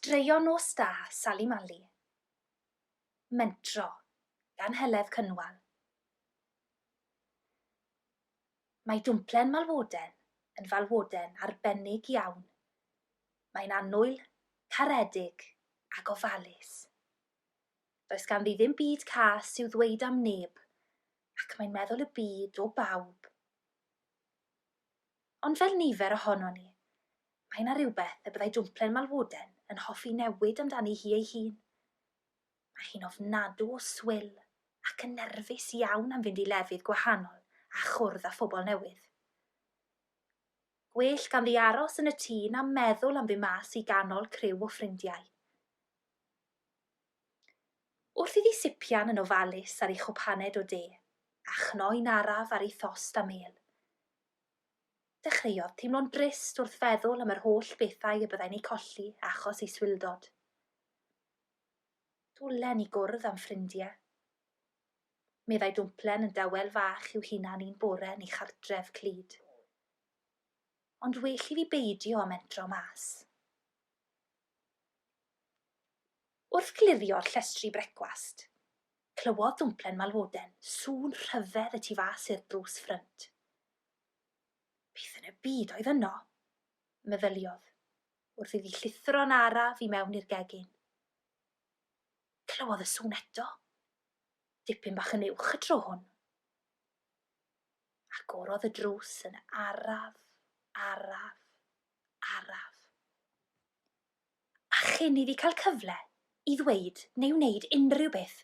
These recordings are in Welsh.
Straeon Nos Da, Sali Mali. Mentro, gan Heledd Cynwal. Mae Dumplen Malwoden yn falwoden arbennig iawn. Mae'n annwyl, caredig ac ofalus. Does ganddi ddim byd cas i'w ddweud am neb ac mae'n meddwl y byd o bawb. Ond fel nifer ohonon ni, mae yna rywbeth y byddai Dumplen Malwoden yn hoffi newid amdani hi ei hun. Mae hi'n ofnadw o swil ac yn nerfus iawn am fynd i lefydd gwahanol a chwrdd â phobl newydd. Gwell ganddi aros yn y tŷ na meddwl am fy mas i ganol criw o ffrindiau. Wrth iddi sipian yn ofalus ar ei chwpaned o de, a chnoi'n araf ar ei thost a mêl. Dechreuodd teimlo'n drist wrth feddwl am yr holl bethau y byddai'n eu colli achos ei swildod. Dwlen i gwrdd â'm ffrindiau. Meddai Dwmplen yn dawel fach i'w hunan un bore yn ei chartref clyd. Ond well i fi beidio â mentro mas. Wrth glirio'r llestri brecwast, clywodd Dwmplen Malwoden sŵn rhyfedd y tu fas i'r drws ffrynt. Beth yn y byd oedd yno? meddyliodd. wrth iddi llithro'n araf i mewn i'r gegin. Clywodd y sŵn eto, dipyn bach yn uwch y tro hwn. Agorodd y drws yn araf, araf, araf. A chyn iddi cael cyfle i ddweud neu wneud unrhyw beth,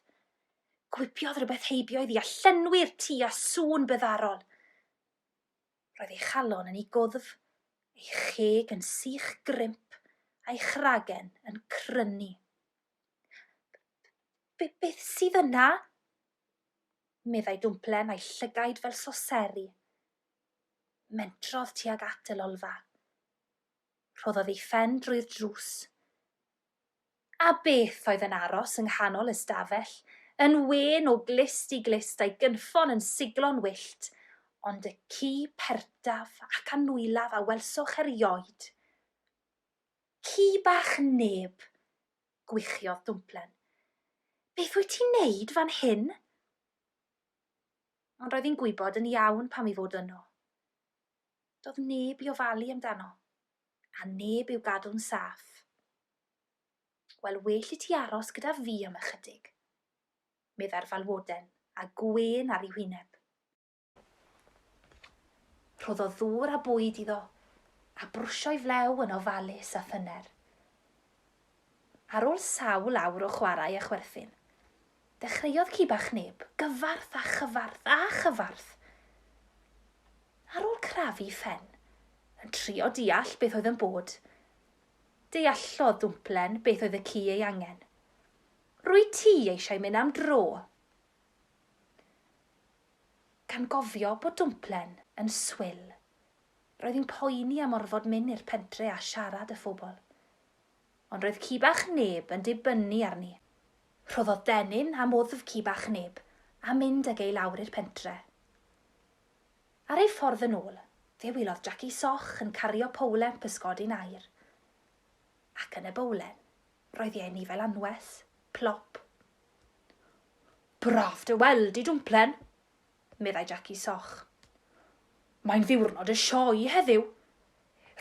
gwibiodd rhywbeth heibio iddi a llenwi'r tŷ â sŵn byddarol. Roedd ei chalon yn ei gwddf, ei cheg yn sych grimp, a'i chragen yn crynu. Beth sydd yna? meddai Dwmplen a'i llygaid fel soseri. Mentrodd tuag at y lolfa. Rhoddodd ei phen drwy'r drws. A beth oedd yn aros yng nghanol y stafell, yn wên o glust i glust a'i gynffon yn siglo'n wyllt, ond y ci perdaf ac annwylaf a welsoch erioed. Ci bach neb! gwichiodd Dwmplen. Beth wyt ti'n neud fan hyn? Ond roedd hi'n gwybod yn iawn pam i fod yno. Doedd neb i ofalu amdano. a neb i'w gadw'n saff. Wel, well i ti aros gyda fi am ychydig, meddai'r falwoden, a gwên ar ei hwyneb. Rhoddodd ddŵr a bwyd iddo, a brwsio'i flew yn ofalus a thyner. Ar ôl sawl awr o chwarae a chwerthin, dechreuodd ci bach neb, gyfarth a chyfarth a chyfarth! Ar ôl crafu phen, yn trio deall beth oedd yn bod, deallodd Dwmplen beth oedd y ci ei angen. Rwyt ti eisiau mynd am dro! Gan gofio bod Dwmplen yn swil, roedd hi'n poeni am orfod mynd i'r pentre a siarad â phobl. Ond roedd ci bach Neb yn dibynnu arni. Rhoddodd dennyn am wddf ci bach Neb a mynd ag e i lawr i'r pentre. Ar ei ffordd yn ôl, fe welodd Jaci Soch yn cario powlen pysgodi'n air. Ac yn y bowlen, roedd i ei ni fel anwes, plop. Braf dy weld di, Dwmplen! meddai Jackie Soch. Mae'n ddiwrnod y sioe heddiw!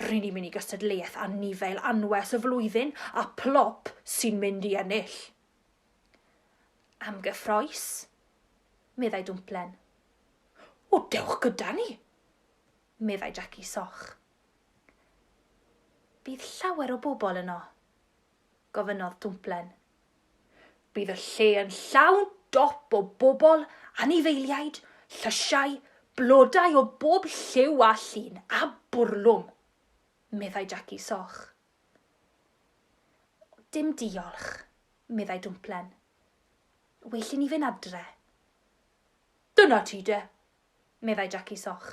Ry'n ni'n mynd i gystadleuaeth anifail anwes y flwyddyn a Plop sy'n mynd i ennill. Am gyffroes? meddai Dwmplen. O, dewch gyda ni! meddai Jackie Soch. Bydd llawer o bobl yno? gofynnodd Dwmplen. Bydd y lle yn llawn dop o bobl, anifeiliaid, llysiau, blodau o bob lliw a llun, a bwrlwm, meddai Jackie Soch. Dim diolch, meddai Dwmplen. Well i ni fynd adre. Dyna ti de, meddai Jackie Soch,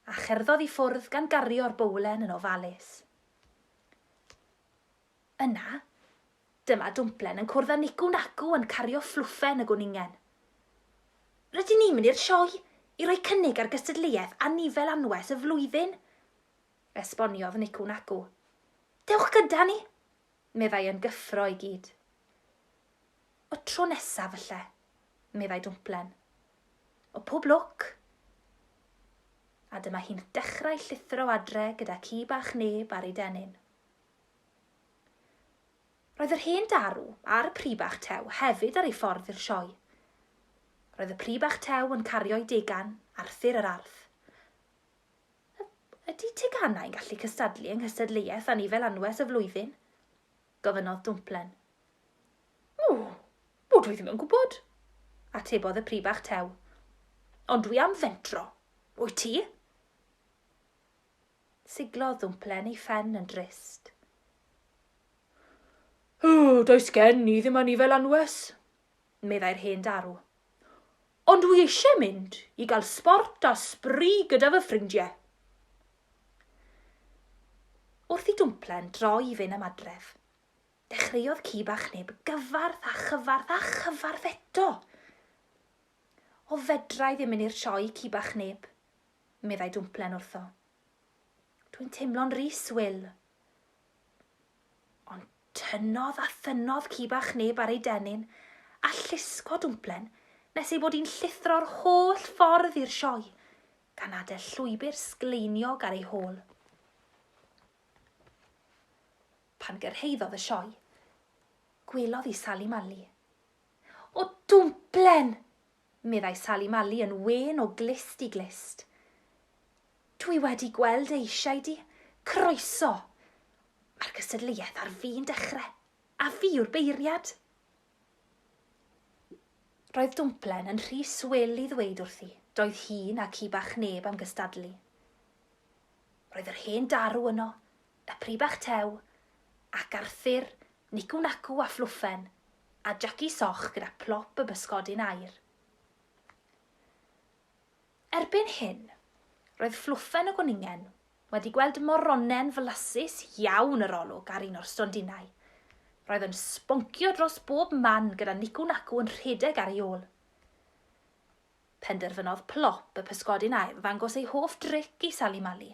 a cherddodd i ffwrdd gan gario'r bowlen yn ofalus. Yna, dyma Dwmplen yn cwrdd â Nicu Nacu yn cario fflwffen y gwningen. Rydyn ni'n mynd i'r sioe i roi cynnig ar gystadleuaeth anifail anwes y flwyddyn, esboniodd Nicu Nacu. Dewch gyda ni! meddai yn gyffro i gyd. Y tro nesaf falle, meddai Dwmplen. O pob lwc! A dyma hi'n dechrau llithro adre gyda ci bach neb ar ei denyn. Roedd yr hen darw a'r pry bach tew hefyd ar ei ffordd i'r sioe. Roedd y pry bach tew yn cario'i degan, Arthur yr Arth. Y, ydy teganau yn gallu cystadlu yng nghystadleuaeth anifel anwes y flwyddyn? gofynnodd Dwmplen. O, o, dwi ddim yn gwybod, atebodd y pry bach tew. Ond dwi am fentro. Wyt ti? Siglodd ddwmplen ei phen yn drist. O, does gen i ddim anifel anwes, meddai'r hen darw. Ond dwi eisiau mynd i gael sbort a sbri gyda fy ffrindiau. Wrth i dwmplen droi i fyn am adref, dechreuodd ci bach neb gyfarth a chyfarth a chyfarth eto. O fedrai ddim mynd i'r sioe, ci bach neb, meddai Dwmplen wrtho. Dwi'n teimlo'n rhys, Wil. Ond tynnodd a thynnodd ci bach neb ar ei dennyn a llusgo Dwmplen nes ei bod hi'n llithro'r holl ffordd i'r sioe, gan adael llwybr sgleiniog ar ei hôl. Pan gyrhaeddodd y sioe, gwelodd i Sali Mali. O, Dwmplen! meddai Sali Mali yn wên o glust i glust. Dwi wedi gweld dy eisiau di. Croeso! Mae'r gystadleuaeth ar fin dechre, a fi yw'r beiriad! Roedd Dwmplen yn rhy swil i ddweud wrthi, doedd hi na ci bach neb am gystadlu. Roedd yr hen darw yno, y Pry Bach Tew, ac Arthur, Nicw Nacw a Phlwffen, a Jaci Soch gyda Plop y Bysgodyn Aur. Erbyn hyn, roedd Phlwffen y Gwningen wedi gweld moronen flasus iawn yr olwg ar un o'r stondinau. Roedd yn sboncio dros bob man gyda Nicw Nacw yn rhedeg ar ei ôl. Penderfynodd Plop y Pysgodyn Aur ddangos ei hoff dric i Sali Mali.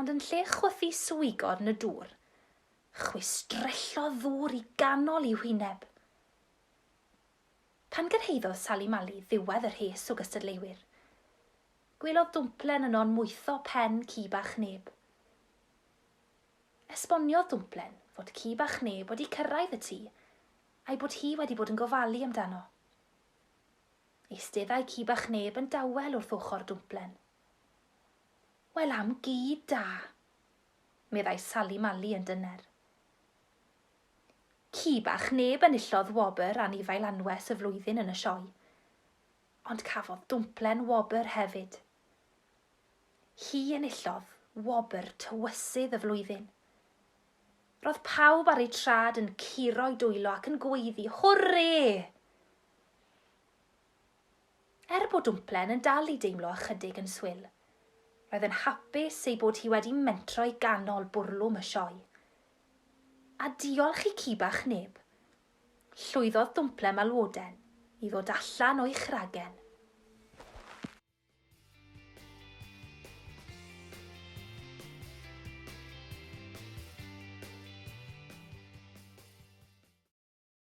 Ond yn lle chwythu swigod yn y dŵr, chwistrellodd ddŵr i ganol i'w hwyneb. Pan gyrhaeddodd Sali Mali ddiwedd y rhes o gystadleuwyr, gwelodd Dwmplen yno'n mwyddo pen ci bach neb. Esboniodd Dwmplen fod ci bach neb wedi cyrraedd y tŷ a'i bod hi wedi bod yn gofalu amdano. Eisteddai ci bach neb yn dawel wrth ochr Dwmplen. Wel am gi da! meddai Sali Mali yn dyner. Ci bach neb enillodd wobr anifail anwes y flwyddyn yn y sioe, ond cafodd Dwmplen wobr hefyd. Hi enillodd wobr tywysydd y flwyddyn. Roedd pawb ar eu trad yn curo'u dwylo ac yn gweiddi, Hwrê! Er bod Dwmplen yn dal i deimlo ychydig yn swil, roedd yn hapus ei bod hi wedi mentro i ganol bwrlwm y sioe. A diolch i ci bach Neb, llwyddodd Dwmplen Malwoden i ddod allan o'i chragen.